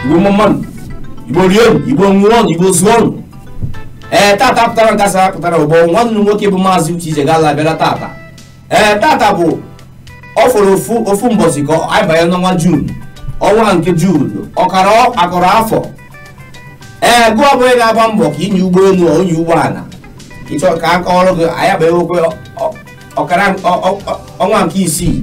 igbo mma nụ igbo rienu igbo nwụọnụ igbo zụọnụ ee tata pụtara nke asara pụtara ụbọ nwanne m nwoke bụ maazị uche ijegalụ bịara tata ee tata bụ ọ fọrọ ofu ofu mbọsị ka anyị banye n'ọnwa jun ọnwa nke jun ọkara akọrọ afọ ee gịwa bụ onye na-agba mbọ ka inye ụgbọelu onye ụgbọala ị chọ ka a kọọrọ gị anyị abanye okwe ọkara ọnwa nke isii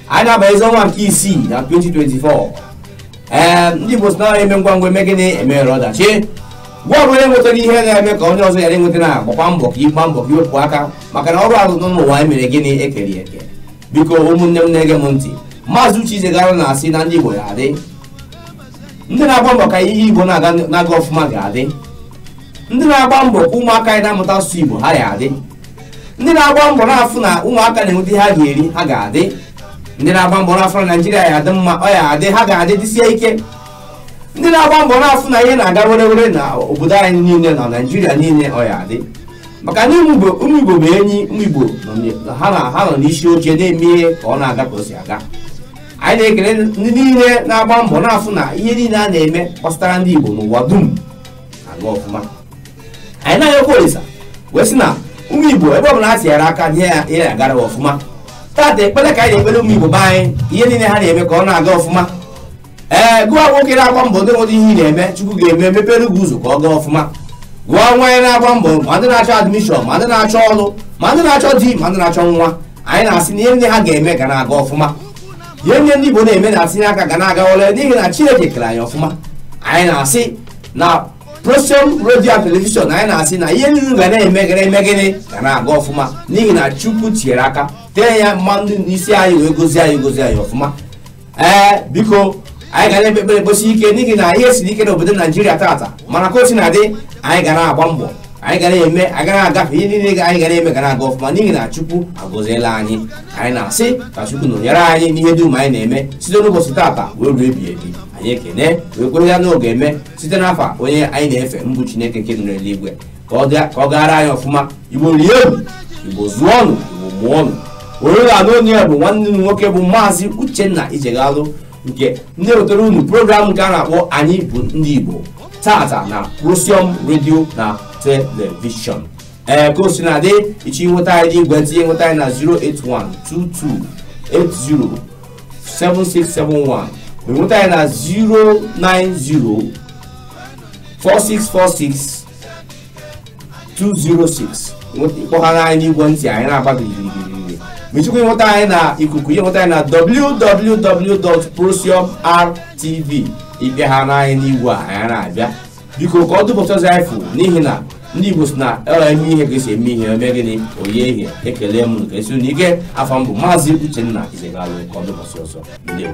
anyị na-abazi ọnwa nke isii na 2024 ee ndị Igbo sị na e mee ngwa ngwa e mee gịnị emere ọdachi gịwa bụ onye nwetara ihe na-eme ka onye ọzọ ya enweta na agbakwa mbọ ka ị gba mbọ ka i wepụ aka maka na ọrụ ahụ nọ n'ụwa e mere gịnị e kere eke biko ụmụnne m na-ege m ntị maazị uche ijegalụ na-asị na ndị Igbo ya adị ndị na-agba mbọ ka ihe Igbo na-aga ọfụma ga-adị ndị na-agba mbọ ka ụmụaka anyị na-amụta asụsụ Igbo ha ya adị ndị na-agba mbọ na-afụ na ụmụaka na-enweta ihe ha ga-eri ha ga-adị ndị na-agba mbọ na-afụ na naijiria ya adị mma ọ ya adị ha ga-adị dịsie ike ndị na-agba mbọ na-afụ na ihe na-aga were were na obodo anyị niile na naijiria niile ọ ya adị maka na ụmụ Igbo- ụmụ igbo bụ enyi ụmụ igbo nọ n- ha na- ha nọ n'isi oche na-eme ihe ka ọ na-aga ka o si aga anyị na-ekele ndị niile na-agba mbọ na-afụ na ihe niile a na-eme gbasara ndị igbo n'ụwa dum na-aga ọfụma anyị na-ayọkwa olisa wee sị na ụmụ igbo ebe ọbụla ha tinyere aka nye ya ihe na-agara ha ọfụma tata ekpere ka anyị na-ekpere ụmụ igbo be anyị ihe niile ha na-eme ka ọ na-aga ọfụma ee gịwa nwoke na-agba mbọ ndị nwere ihe ị na-eme chukwu ga-eme mepere gị ụzọ ka ọ gaa ọfụma gịwa nwaanyị na-agba mbọ ma ndị na-achọ admishọn ma ndị na-achọ ọrụ ma ndị na-achọ di ma ndị na-achọ nwa anyị na-asị na ihe ndị ha ga-eme ga na-aga ọfụma ihe ndị ndị igbo na-eme na-atinye aka ga na-aga ole n'ihi na chineke kere anyị ọfụma anyị na-asị na Prosium redio and telivishọn anyị na-asị na ihe niile ga na-eme gịnị eme gịnị ga na-aga ọfụma n'ihi na Chukwu tinyere aka tee ya mmanụ n'isi anyị wee gọzie anyị gọzie anyị ọfụma ee biko anyị ga na-ekpe ekpere ekpesie ike n'ihi na ihe siri ike n'obodo Naijiria tata mana ka o si na-adị anyị ga na-agba mbọ anyị ga na-eme anyị ga na-agafe ihe niile anyị ga na-eme ga na-aga ọfụma n'ihi na Chukwu agọziela anyị anyị na-asị ka Chukwu nọnyere anyị n'ihe dum anyị na-eme site n'ụbọchị tata wee ruo ebighị ebi anyị ekene wee kwere na ọ ga-eme site n'afa onye anyị na-efe bụ chineke nke nọ n'eluigwe ka ọ gaara anyị ọfụma igbo rienu igbo zụọnụ igbo mụọnụ onye ị na-anụ olu ya bụ nwanne m nwoke bụ maazị uchenna ijegalụ nke na-ewetara unu program nke a na-akpọ anyị bụ ndị igbo tata na prosium redio na telivishọn ee ka o si na-adị ị chọ inweta anyị n'ekwentị nweta anyị na 08122 80 7671 nweta anyị na 090 4646 206 kpọghara anyị n'igwe ntị anyị na-agba gịrịgịrịgịrị ma ị chọkwa ịnweta anyị na ikuku ị ya-enweta anyị na www.prosiumrtv ị kpọhara anyị n'igwe a anyị na-abịa biko ka ọ dụpụtazi anyị fụ n'ihi na ndị igbo si na e mee ihe ka e si eme ihe o mee gịnị o yie ihe ekelee m ụnụ nke esi na ike afa m bụ maazị uchenna izegalụ ka ọ dị ụbọsị ọzọ ndewo